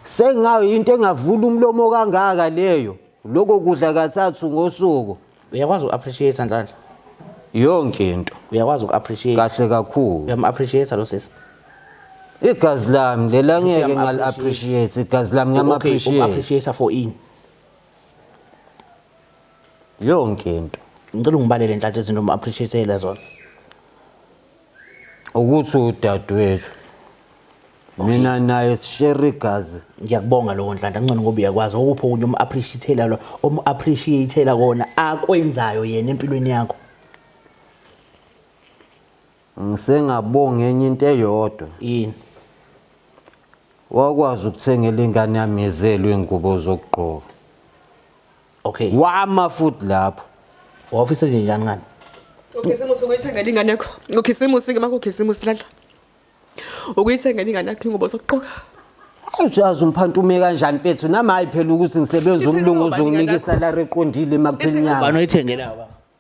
Sengayo into engavula umlomo kangaka leyo. Lokho kudla kathathu ngosuku uyakwazi uku-appreciate nhlanhla yonke into uyakwazi uku-appreciate kahle kakhulu uyam-appreciate lo sisi igazi lami lela ngeke ngali-appreciate igazi lami ngiyam-appreciate okay, for ini yonke into ngicela ungibalele nhlanhla izinto uma appreciateile zona ukuthi udadewethu mina naye sishare igazi ngiyakubonga lokho nhlanhla ngcono ngoba uyakwazi okuphi okunye uma appreciateile lo uma appreciateile kona akwenzayo yena empilweni yakho ngisengabonga enye into eyodwa yini wakwazi ukuthengela ingane yami yezelwe ingubo zokugqoka okay wama futhi lapho wafisa nje njani ngani ukhisimusi ukuyithengela ingane yakho ukhisimusi ke makukhisimusi lala ukuyithengela ingane yakho ingubo sokuqoka Ujazi umphantume kanjani mfethu nami hayi phela ukuthi ngisebenza umlungu uzonginika isalary eqondile emagcini yami. Banoyithengela baba.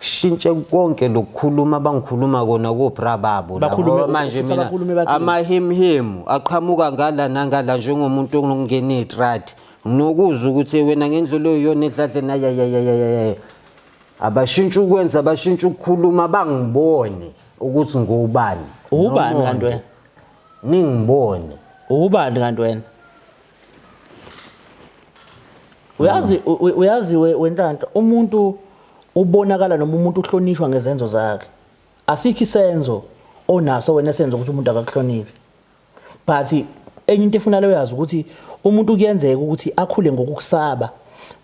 shintshe konke lokukhuluma abangikhuluma kona kobra babo labo. Bakhulume Ngoba manje ufisa mina bakhulume bathini? amahimhimu aqhamuka ngala nangala njengomuntu onokungena itradi nokuzwa ukuthi wena ngendlela oyiyona edladleni ayayayayayaya abashintshe ukwenza abashintshe ukukhuluma bangibone ukuthi ngubani Ubani Nomonde. kanti wena? ningibone Ubani kanti wena? uyazi uyazi wenhlanhla umuntu ubonakala noma umuntu uhlonishwa ngezenzo zakhe asikho isenzo onaso wena senzo ukuthi umuntu akakuhlonile but enye into efuna leyo yazi ukuthi umuntu kuyenzeka ukuthi akhule ngokukusaba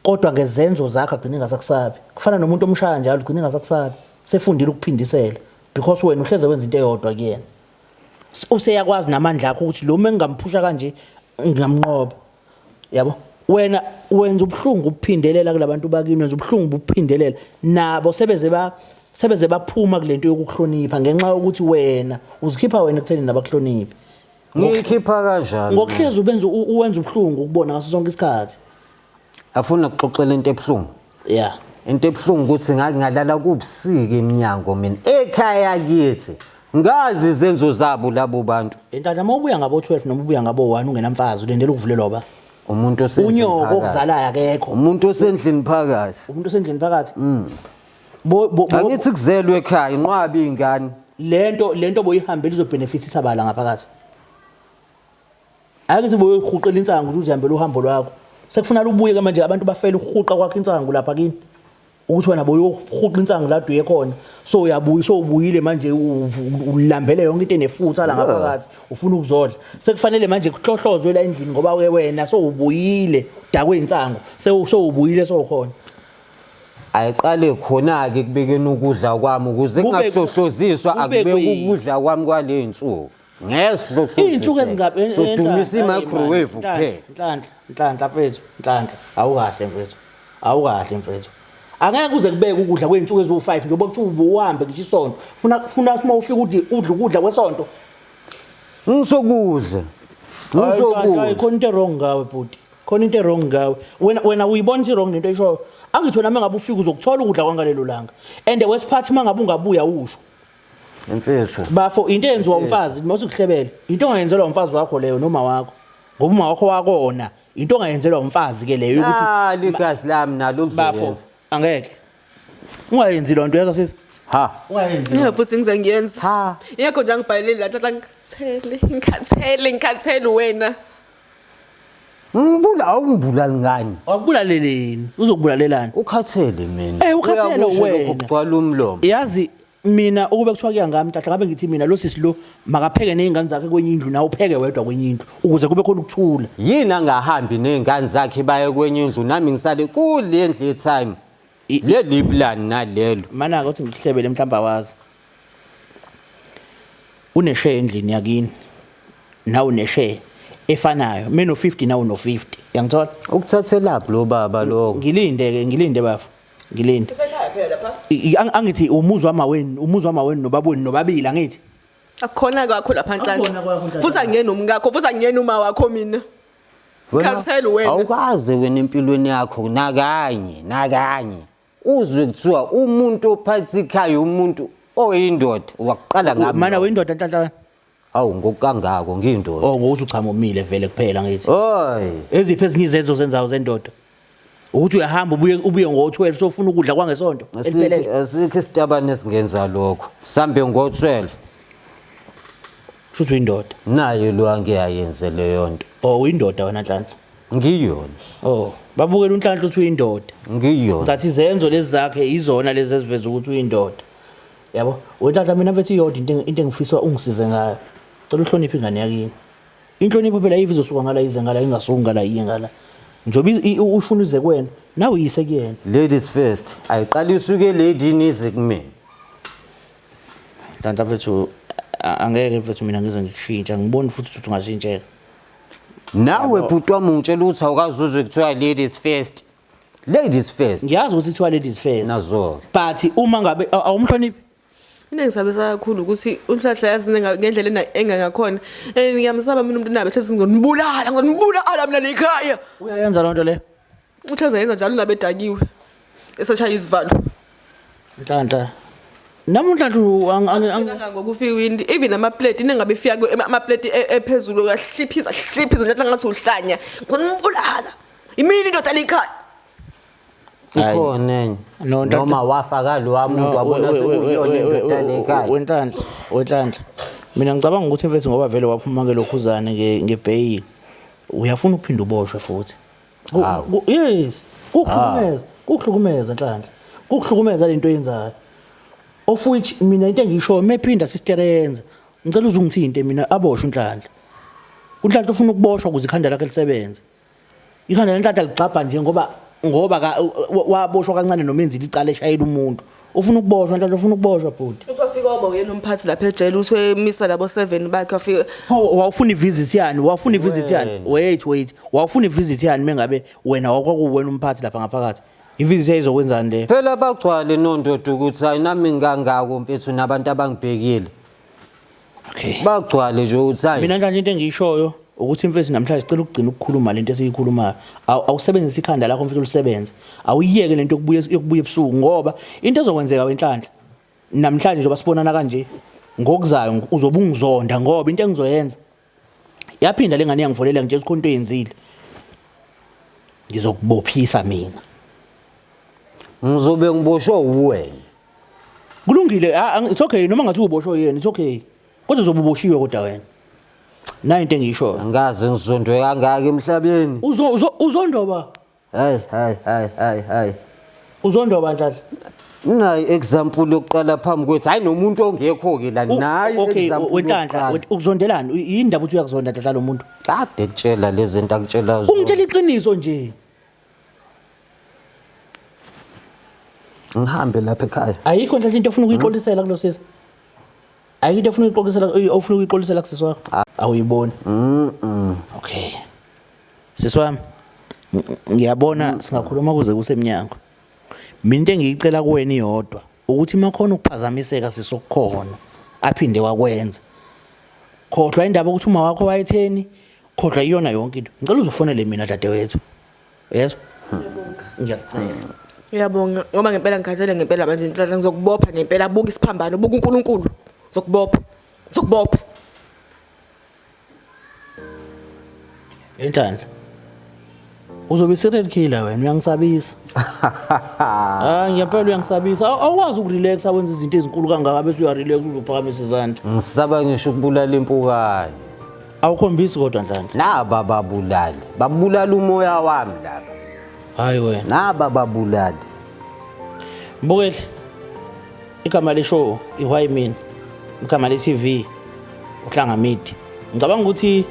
kodwa ngezenzo zakhe agcine ngasakusabi kufana nomuntu omshaya njalo ugcine ngasakusabi sefundile ukuphindisela because wena uhleze wenza into eyodwa kuyena useyakwazi namandla akho ukuthi lo mengingamphusha kanje ngingamnqoba yabo wena wenza ubuhlungu ubuphindelela kulabantu bakini wenza ubuhlungu ubuphindelela nabo sebeze ba sebeze baphuma kulento yokuhlonipha ngenxa yokuthi wena uzikhipha wena ekutheni nabakuhloniphi ngikhipha kanjani ngokuhlezi ubenza uwenza ubuhlungu ukubona ngaso sonke isikhathi Afuna kuxoxela into ebuhlungu. Yeah. Into ebuhlungu ukuthi ngake ngalala kubusika eminyango mina ekhaya kithi. Ngazi izenzo zabo labo bantu. Intandla uma ubuya ngabo 12 noma ubuya ngabo 1 ungenamfazi ulendela ukuvulelwa ba. Umuntu osendlini Unyoko phakathi. okuzalayo akekho. Umuntu osendlini phakathi. Umuntu osendlini phakathi. Bo bo bo- Angithi kuzelwe ekhaya inqwabi ingane. lento lento boyihambela izobenefitisa bala ngaphakathi. Ake ngithi boyoyihuqela insangu ukuthi uzihambele uhambo lwakho. Sekufunala ubuye ke manje abantu bafela ukuhuqa kwakho insangu lapha kini. Ukuthi wena boyohuqa insangu la duye khona. So uyabuya so ubuyile manje ulambele yonke into enefutha la ngaphakathi ufuna ukuzodla. Sekufanele manje kuhlohlozwe la endlini ngoba ke wena so ubuyile dakwe insangu. So so ubuyile so khona. ayiqale khona-ke ekubekeni ukudla kwami ukuze Kube- kungahlohloziswa kube akubeki kwi- ukudla kwami kwale nsuku Izinsuku ezingaphi sodumisa i-microwave kuphela. Nhlanhla, nhlanhla mfethu, nhlanhla. Awukahle mfethu. Awukahle mfethu. Angeke kuze kubeke ukudla kwezinsuku eziwu-5 njengoba kuthiwa ubuhambe ngisho isonto. Funa funa uma ufika udle udle ukudla kwesonto. Ngisokudla. Ngisokudla. Khona into wrong ngawe bhuti. Khona into wrong ngawe. Wena wena uyibona ukuthi wrong lento eshoyo. Angithi wena mangabe ufika uzokuthola ukudla kwangalelo langa. And wesiphathi mangabe ungabuya usho. Imfethu. Bafo into eyenziwa umfazi mase ukuhlebele. Into ongayenzelwa umfazi wakho leyo noma wakho. Ngoba uma wakho wakona into ongayenzelwa umfazi ke leyo ukuthi Ah ligazi lami nalo bafo lizoyenza. angeke. Ungayenzi lo nto yazo sisi. Ha. Ungayenzi. Yeah, futhi ngize ngiyenza Ha. ingakho nje angibhalele la tata ngikhathele ngikhathele ngikhathele wena Ngibula awungibulali ngani? Wakubulaleleni? Uzokubulalelani? Ukhathele mina. Eh ukhathele wena. Ukugcwala umlomo. Yazi mina ukube kuthiwa kuya ngami tata ngabe ngithi mina lo sisi lo makapheke nezingane zakhe kwenye indlu nawe upheke wedwa kwenye indlu ukuze kube khona ukuthula. Yini angahambi nezingane zakhe baye kwenye indlu nami ngisale kule ndlu ye time. leli plan nalelo Mana-ke uthi ngikuhlebele mhlawumbe awazi. Unesheya endlini yakini. Nawe unesheya efanayo. Mina no-50 nawe uno-50. Uyangithola? ukuthathelaphi lo baba lokho Ngilinde-ke, ngilinde bafo. Ngilinde. Isekhaya phela lapha. I- i- ang- Angithi umuzi wama wenu, umuzi wama wenu nobaba wenu nobabili angithi. Akukhona kwakho lapha Akhona kwakho, nhlanhla. Ntantakwami. Futhi angiyena umkakho, futhi angiyena uma wakho mina. Khamsani wena. Awukaze wena empilweni yakho nakanye nakanye uzwe kuthiwa umuntu ophatha ikhaya umuntu oyindoda wakuqala ngami. Mana windoda ntanhlakani. Awu ngokangako ngiyindoda. Oh ngokuthi uchamomile vele kuphela ngithi. Oy. Eziphi ezinye izenzo zenzayo zendoda? ukuthi uyahamba ubuye ubuye ngo-12 sofuna ukudla kwangesonto eliphelele asikho isitabane esingenza lokho sambe ngo-12 shuthi uyindoda nayo lo angiyayenze leyo nto o oh, uyindoda wena nhlanhla ngiyona o oh, babukela unhlanhla ukuthi uyindoda ngiyona ngathi izenzo lezi zakhe izona lezi eziveza ukuthi uyindoda yabo wenhlanhla mina mfethu iyodwa into engifisa ungisize ngayo cela uhloniphe ingane yakini Inhlonipho phela ayive izosuka ngala ize ngala ingasuki ngala iye ngala. Njoba ufuna uze kuwena nawe yise kuyena. Ladies first. Ayiqala isuke lady nize kumina. Tanta mfethu angeke mfethu mina ngize ngikushintsha ngiboni futhi ukuthi ungashintsheka. Nawe bhuti wami ungitshela ukuthi awukazuzwe kuthiwa ladies first. Ladies first. Ngiyazi ukuthi kuthiwa ladies first. Nazo. But uma ngabe awumhloniphi into engisabisa kakhulu ukuthi unhlahla yazi ngendlela engangakhona and ngiyamsaba mina umuntu nabe sesingonibulala ngonibulala mina nekhaya uyayenza loo nto le uthi azayenza njalo nabe edakiwe esashaya izivalo nhlanhla namunhla ngokufika iwindi even amapleti nengabe ifika amapleti e, ephezulu kahliphiza hliphiza njengathi ngathi uhlanya ngonibulala imini indoda lekhaya ikhona enye No, ntatha- noma wafa kalowa muntu wabona sekuyiyona indoda le ekhaya wenhlanhla wenhlanhla mina ngicabanga ukuthi mfethu ngoba vele waphuma ke lokhuzane nge- ngebheyili uyafuna ukuphinde uboshwe futhi Ku- Hawu. ku- yes kukuhlukumeza kukuhlukumeza nhlanhla kukuhlukumeza lento oyenzayo of which mina into engiyishoyo mephinda sister yenza ngicela uze ungithinte mina aboshwe unhlanhla unhlanhla ufuna ukuboshwa ukuze ikhanda lakhe lisebenze Ikhanda lentatha ligxabha nje ngoba ngoba ka waboshwa kancane noma enzile icala eshayela umuntu. Ufuna ukuboshwa ntatha ufuna ukuboshwa bhuti. Uthi wafika oba uyena umphathi lapha ejele uthi wemisa labo 7 bakhe wafika Hawu wawufuna ivisit yani wawufuna ivisit yani wait wait wawufuna ivisit yani mengabe wena wakwakuwena umphathi lapha ngaphakathi ivisit yayizokwenzani le Phela bagcwale nondoda ukuthi ayinami ngangako mfethu nabantu abangibhekile. okay bagcwale nje ukuthi hayi mina nje into engiyishoyo ukuthi imfesi namhlanje sicela ukugcina ukukhuluma lento esiyikhulumayo awusebenzise ikhanda lakho mfethu lisebenze awuyiyeke lento yokubuya yokubuya ebusuku ngoba into ezokwenzeka wenhlanhla namhlanje njengoba sibonana kanje ngokuzayo uzobe ungizonda ngoba into engizoyenza yaphinda lengane yangivolela ngitshela ukuthi into eyenzile ngizokubophisa mina ngizobe ngiboshwe uwena kulungile ah, ah, it's okay noma ngathi uboshwe yena it's okay kodwa uzobe uboshiwe kodwa wena nayo into engiyishoyo angikaze ngizondwe kangaka emhlabeni Uzo- uzo- uzondoba hayi hayi hayi hayi hayi uzondoba nhlahla nayi example yokuqala phambi kwethu hayi nomuntu ongekho-ke la U- nayi okay example wenhlanhla yokuqala. went- ukuzondelani U- yini ndaba ukuthi uyakuzonda nhlahla lo muntu kade kutshela lezi zinto akutshela zona ungitshela iqiniso nje ngihambe lapha ekhaya ayikho nhlahla into ofuna ukuyixolisela kulo sisi ayikho into ofuna ukuyixolisela ofuna ukuyixolisela kusisi wakho ah. awuyiboni okay sisi wami ngiyabona singakhuluma kuze kusemnyango mina into engiyicela kuwena iyodwa ukuthi makhona ukuphazamiseka sisokukhona aphinde wakwenza khohlwa indaba ukuthi uma wakho wayetheni khohlwa iyona yonke into ngicela uzofonele mina dadewethu yezwa ngiyacela uyabonga ngoba ngempela ngikhathele ngempela manje inhlala ngizokubopha ngempela buka isiphambano buka uNkulunkulu ngizokubopha ngizokubopha Inhlanhla. Uzobe serial killer wena uyangisabisa. Ah ngiyapela uyangisabisa. Aw- Awukwazi ukurelax awenza izinto ezinkulu kangaka bese uyarelax uzophakamisa izandla. Ngisaba ngisho ukubulala impukane. Awukhombisi kodwa Nhlanhla. Naba babulali. Babulala umoya wami laba. Hayi wena. Naba babulali. Mbukeli. Igama le show iwhy mina. Igama le TV uhlanga midi. Ngicabanga ukuthi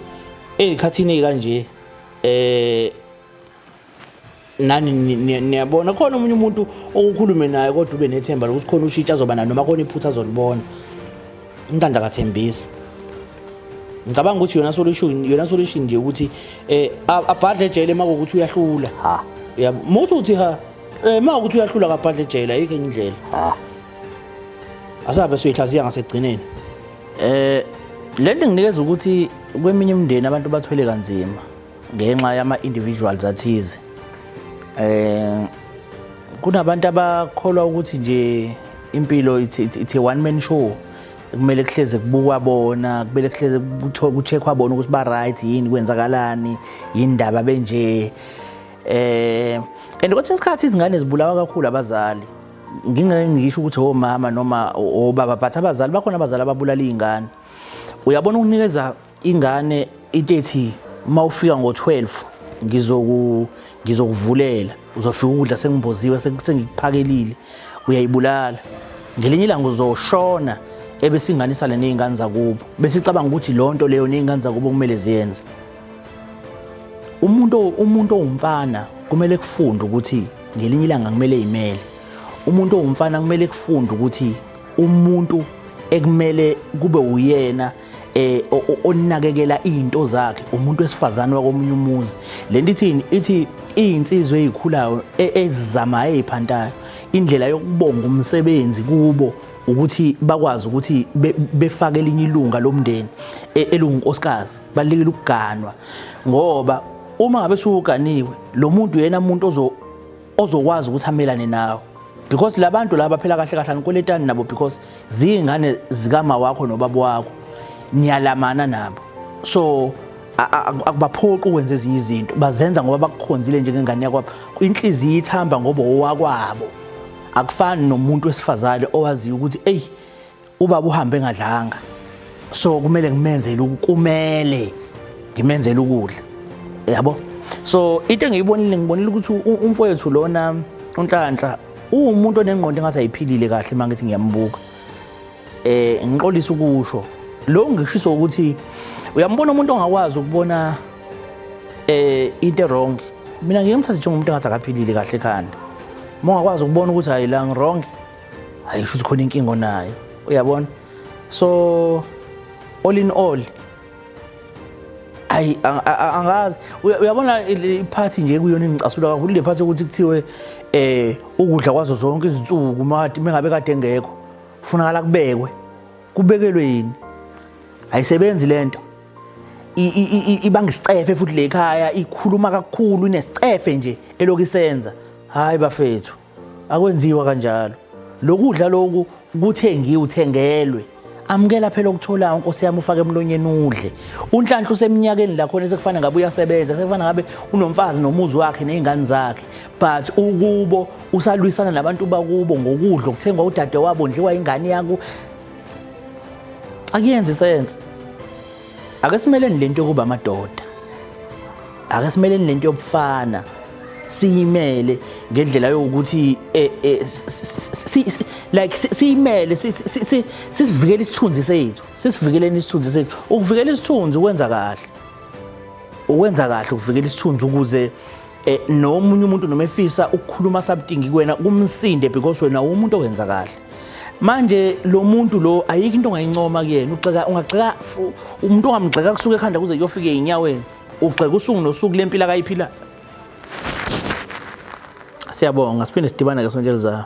ezikhathini kanje eh nani niyabona khona omunye umuntu okukhulume naye kodwa ube nethemba lokuthi khona ushitsha azoba nayo noma khona iphutha azolibona umntanda kathembisa ngicabanga ukuthi yona solution yona solution nje ukuthi eh abhadle ejele makuthi uyahlula ha uyamuthi uthi ha Eh ma ukuthi uyahlula kabhadle ejele ayikho enye indlela. Ah. Asabe siyihlaziya ngasekugcineni. Eh lento nginikeza ukuthi kweminye imindeni abantu bathwele kanzima ngenxa yama individuals athize. Eh kunabantu abakholwa ukuthi nje impilo it's, it's, it's a one man show kumele kuhleze kubukwa bona kumele kuhleze kucheckwa bona ukuthi ba right yini kwenzakalani yindaba benje eh and kwesinye isikhathi izingane zibulawa kakhulu abazali ngingeke ngisho ukuthi omama noma obaba but abazali bakhona abazali ababulala izingane uyabona ukunikeza ingane into ethi mawufika ngo12 ngizoku ngizokuvulela uzofika ukudla sengimboziwe sengikuphakelile uyayibulala ngelinye ilanga uzoshona ebesinganisana nezingane zakubo bese icabanga ukuthi lonto leyo nezingane zakubo kumele ziyenze umuntu umuntu owumfana kumele kufunde ukuthi ngelinye ilanga kumele imele umuntu owumfana kumele kufunde ukuthi umuntu ekumele kube uyena eh onakekela izinto zakhe umuntu wesifazane wakomunye umuzi lento ithini ithi izinsizwe ezikhulayo e, ezizamayo eziphantayo indlela yokubonga umsebenzi kubo ukuthi bakwazi ukuthi befake elinye ilunga lomndeni e, elungunkosikazi balekile ukuganwa ngoba uma ngabe suwuganiwe lo muntu yena umuntu ozo ozokwazi ukuthi amelane nawe because labantu laba phela kahle kahle anikweletani nabo because zingane zikama wakho nobaba wakho niyalamana nabo so akubaphoqi ukwenza ezinye izinto bazenza ngoba bakukhonzile njengengane yakwabo inhliziyo ithamba ngoba owakwabo akufani nomuntu wesifazane owaziyo ukuthi eyi Ubaba uhambe engadlanga. So kumele ngimenzele ukumele ngimenzele ukudla. Yabo? So into engiyibonile ngibonile ukuthi umfowethu lona uNhlanhla uwumuntu onengqondo engathi ayiphilile kahle manje ngithi ngiyambuka. Eh ngiqolisa ukusho. Lo ngishiso ukuthi uyambona umuntu ongakwazi ukubona eh into wrong. Mina ngiyemthatha njengomuntu engathi akaphilile kahle ekhanda. Mongakwazi ukubona ukuthi hayi la ngirong hayi shuthi khona inkinga onayo uyabona so all in all ayi angazi uyabona iphathi nje kuyona engicasula kakhulu le phathi ukuthi kuthiwe eh ukudla kwazo zonke izinsuku mati mengabe kade ngekho kufunakala kubekwe kubekelwe yini ayisebenzi lento ibanga isicefe futhi le khaya ikhuluma kakhulu inesicefe nje elokisenza hayi bafethu akwenziwa kanjalo lokudla loku kuthengiwe uthengelwe amukela phela okutholayo nkosi yami ufake emlonyeni udle unhlanhla useminyakeni la khona sekufana ngabe uyasebenza sekufana ngabe unomfazi nomuzi wakhe nezingane zakhe but ukubo usalwisana nabantu bakubo ngokudla okuthengwa udade wabo ndliwa ingane yakho akuyenzi sense ake simeleni lento yokuba amadoda ake simeleni lento yobufana siyimele ngendlela yokuthi eh, eh, like siyimele sisivikele isithunzi sethu sisivikeleni isithunzi sethu ukuvikela isithunzi ukwenza kahle ukwenza kahle ukuvikela isithunzi ukuze eh, nomunye umuntu noma efisa ukukhuluma something kuwena kumsinde because wena umuntu owenza kahle manje lo muntu lo ayikho into ongayincoma kuyena ugxeka ungagxeka umuntu ongamgxeka kusuka ekhanda kuze kuyofika eyinyaweni ugxeka usuku nosuku lempilo akayiphila siyabonga siphinde sidibane ke sonto elizayo